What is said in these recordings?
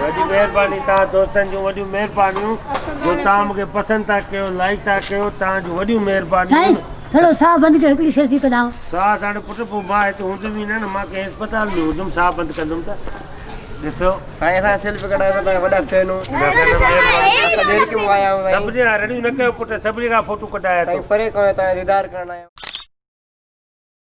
وڏي مهرباني توهان دوستن جون وڏيون مهربانيون جو توهان مونکي پسند ٿا ڪيو لائيڪ ٿا ڪيو توهان جون وڏيون مهربانيون ٿورو ساهه بند ڪيو هڪڙي سيلفي ڪڍان ساهه ساڙي پٽ پو مان هتي هوندم ئي نه نه مان ڪنهن اسپتال ۾ هوندم ساهه بند ڪندم ته ڏسو سائين سان سيلفي ڪڍان ته توهان وڏا فين هو اسان ڏير ڪيو آيا هو سائين سڀني رڙيون نه ڪيو پٽ سڀني کان فوٽو ڪڍايا ٿو سائين پري ڪونه توهان جو ديدار ڪرڻ آيا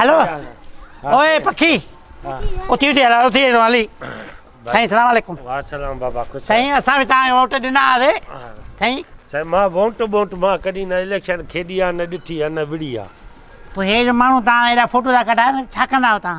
هلو اوء پکي اٿي اٿي هلال اٿي هلو علي سائين السلام عليڪم واسلام بابا خوش سائين اسان به تان ووٽ ڏنا آسي سائين سائين ما ووٽ ووٽ ما ڪڏي نه اليڪشن کيڏي آ نه ڏٺي آ نه وڙي آ پوء هي جو ماڻهو تان ايڏا فوٽو ٿا ڪڍائن ڇا ڪندا آهيو تان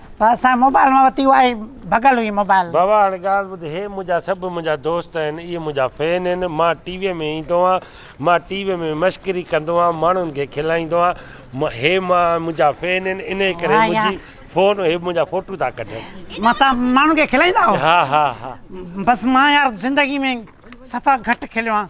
پر اسان موبائل مان وتي اها ئي ڀڳل هئي موبائل. بابا هاڻي ڳالهه ٻڌ هي منهنجا سڀ منهنجا دوست آهن اهي منهنجا فين آهن مان ٽي وي ۾ ايندو آهيان مان ٽي وي ۾ مشڪري ڪندو آهيان ماڻهن کي کلائيندو آهيان هي مان منهنجا فين آهن انهي ڪري منهنجي فون هي منهنجا فوٽو ٿا ڪڍن. مان تان ماڻهن کي کلائيندا آهيو. ها ها ها. بس مان يار زندگي ۾ صفا گهٽ کليو آهيان.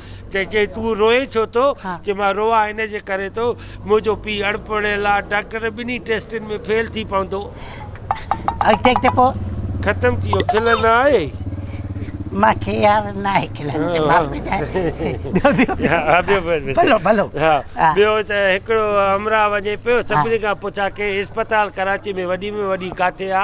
ته چيائين تون روئين ڇو ٿو؟ چيو مان روئان ان جي ڪري ٿو منهنجو پيء اڻپڙهيل آ، ڊاڪٽر ٻنهي ٽيسٽن ۾ فيل ٿي پوندو. اڳتي اڳتي پوء؟ ختم ٿي ويو کلڻ نه آئي؟ مان کي ياد نه آهي کلڻ ته معاف ڪجانء. ٻيو ٻيو؟ ها ٻيو بس. ڀلو ڀلو. ها ٻيو ته هڪڙو همراهه وڃي پيو سڀني کان پڇا ڪي اسپتال ڪراچي ۾ وڏي ۾ وڏي ڪاٿي آ؟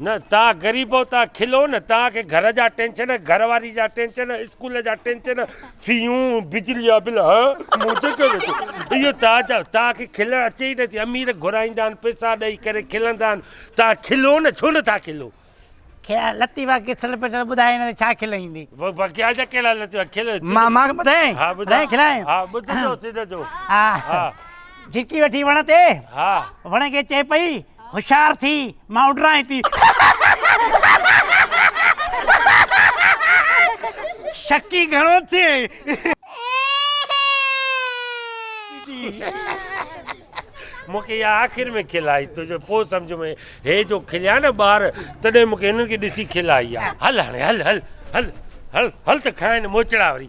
نه تان غريبو تان کلو نه تان کي گهر جا ٽينشن گهر واري جا ٽينشن اسڪول جا ٽينشن فيون بجلي جا بل ها منهنجي ڪيو ويٺو اهو تان جا تان کي کلڻ اچي ئي نٿي امير گهرائيندا آهن پيسا ڏئي ڪري کلندا آهن تان کلو نه ڇو نٿا کلو. کيا لطيفا کسل پٽل ٻڌاء هن تي ڇا کل ايندي. وکيا جا ڪهڙا لطيفا کل مان مان ٻڌائين ها ٻڌاء ٻڌائين کلائين ها ٻڌ جو سڌ جو ها ها جهڪي وٺي وڻ تي ها وڻ کي چئي پئي هوشيار ٿي مان اڏرانء ٿي. شڪي گهڻو ٿئي. مون کي اها آخر ۾ کل آئي تو جو پوء سمجهه ۾ هي جو کليا نه ٻار تڏهن مون کي هنن کي ڏسي کل آئي آ. هل هاڻي هل هل هل هل هل ته کائين موچڙا وري.